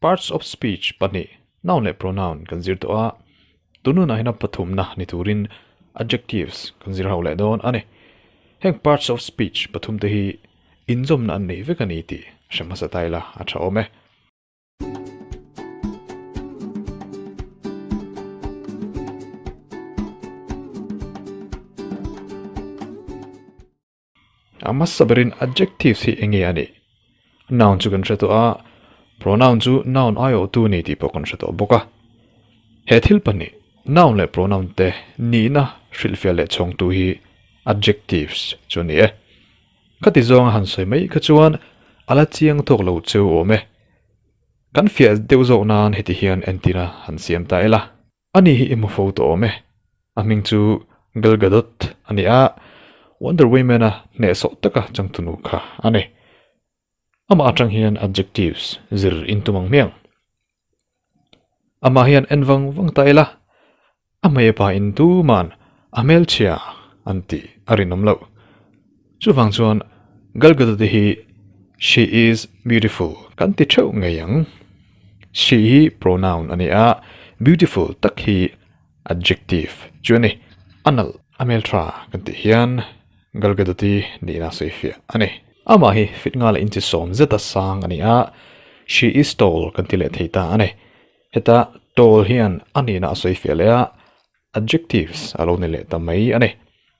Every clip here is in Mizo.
Parts of speech pahnih, noun leh pronoun, kan zir tawh a, tunun ahina pathumna ni turin adjectives kan zir hauh leh dawn a ni. Heng parts of speech pathum te hi inzawmna an neih vek a ni tih hre hmasa ta ila a tha awm e. A hmasa berin adjectives hi eng nge a nih? Noun chu kan hre tawh a, pronoun chu noun aiawhtu a ni tih pawh kan hre tawh bawk a. He thil pahnih, noun leh pronoun te nihna hrilhfiah leh chhawngtu hi adjectives chu a ni e. Khati zawnga han sawi mai kha chuan a la chiang thawk lo che awm e. Kan fiah deuh zawk nan heti hian entirna han siam ta ila. Ani hi i hmu fo tawh awm e. A hming chu Gal Gadot a ni a, Wonder Woman-a hnehsawh taka changtunu kha a ni. Amah atang hian adjectives zir in tum ang hmiang. Amah hian en vang vang ta ila, a hmeipa in tuman a hmelchhia an tih a rinawm loh. Chuvang chuan Gal Gadot-i hi She is beautiful kan ti theuh ngei ang. She hi pronoun a ni a, beautiful tak hi adjective. Chuan i a nalh a hmeltha kan tih hian Gal Gadot-i nihna sawi fiah a ni. Amah hi fit nghala intisawm zeta sang a ni a, She is tall kan ti leh thei ta a ni. Heta tall hian a nihna a sawi fiah leh a, adjectives a lo ni leh ta mai a ni.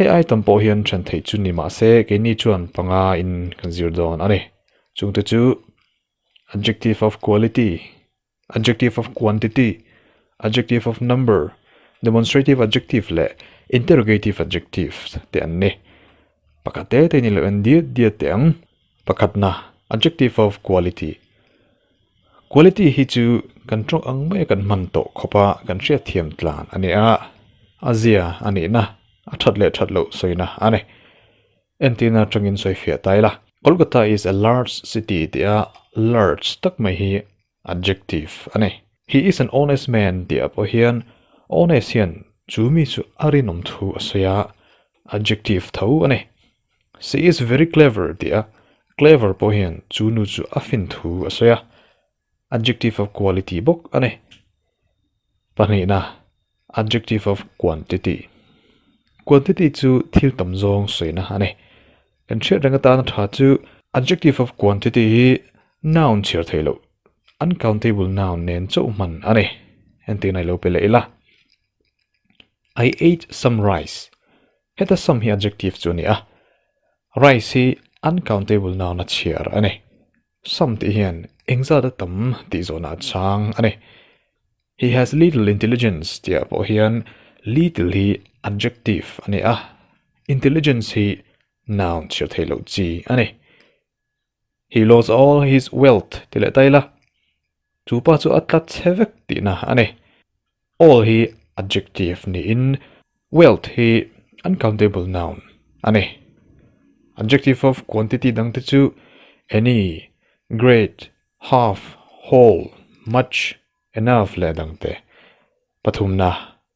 Hei ai tam pawh hian ṭhen theih chu ni mahse keini chuan panga in kan zir dawn a ni. Chungte chu, adjective of quality, adjective of quantity, adjective of number, demonstrative adjective leh interrogative adjective te an ni. Pakhat te te ni loh en diat diat te ang. Pakhatna, adjective of quality, Quality hi chu kan ṭawk ang mai kan hman tawh khawpa kan hriat thiam tlan a ni a, a zia a nihna, a ṭhat leh ṭhat loh sawina a ni. Entir na ṭangin sawifiah ta ila. Kolkata is a large city tia large tak mai hi Adjective, a ni. He is an honest man tih ah pawh hian honest hian chu mi chu a rinawm thu a sawi a, adjective tho a ni. She is very clever tih a clever pawh hian chu nu chu a fin thu a sawi a, adjective of quality bawk a ni. Pahnihna. Adjective of quantity, Quantity chu thil tam zawng sawiina a ni. Kan hriat reng atana tha chu adjective of quantity hi noun chhiar theih loh, uncountable noun nen chauh hman a ni. Entih na i lo pe leh ila. I ate some rice, heta some hi adjective chu a ni a, rice hi uncountable noun a chhiar a ni. Some tih hian engzat a tam tih zawhna a chang a ni. He has little intelligence tihah pawh hian little hi adjective a ni a, intelligence hi noun chhiar theih loh chi a ni. He lost all his wealth tih leh ta ila, Chu pa chu a tlat che vek tihna a ni. All hi adjective niin wealth hi uncountable noun a ni. Adjective of quantity dang te chu any, great, half, whole, much, enough leh dang te pathumna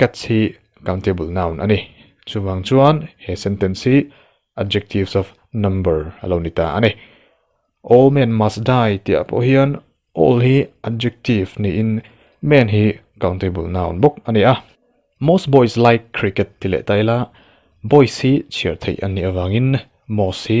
Catch hi countable noun a ni. Chuvang chuan he sentence hi adjectives of number a lo ni ta a ni. All men must die tih ah pawh hian all hi adjective niin men hi countable noun bawk a ni a. Most boys like cricket ti leh ta ila boys hi chhiar theih an nih avangin most hi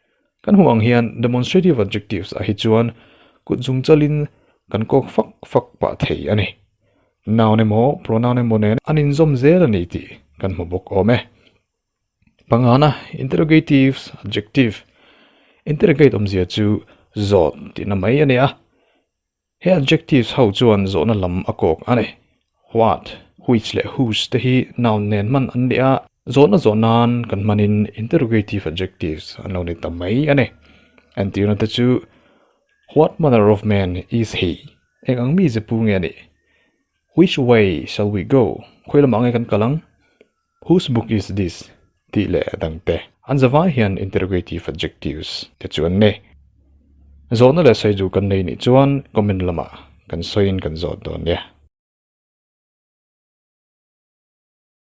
Kan hmuh ang hian demonstrative adjectives ah hi chuan kut zungchal in kan kawk fak fak pah thei a ni. Noun emaw pronoun emaw nen an inzawm zel a ni tih kan hmu bawk awm e. Pangana interrogative adjective interrogate awmzia chu zawt tihna mai a ni a. He adjectives ho chuan zawhna lam a kawk a ni. What, which leh whose te hi noun nen hman an ni a, zawhna zawh nan kan hmanin interrogative adjectives an lo ni ta mai a ni. Entirna te chu What manner of man is he? Eng ang mi ze pu nge a nih? Which way shall we go? Khawi lamah nge kan kal ang? Whose book is this? tih leh a dang te. An zavai hian interrogative adjectives te chu an nei. Zawhna leh sawi duh kan nei nih chuan comment lamah kan sawiin kan zawt dawn nia.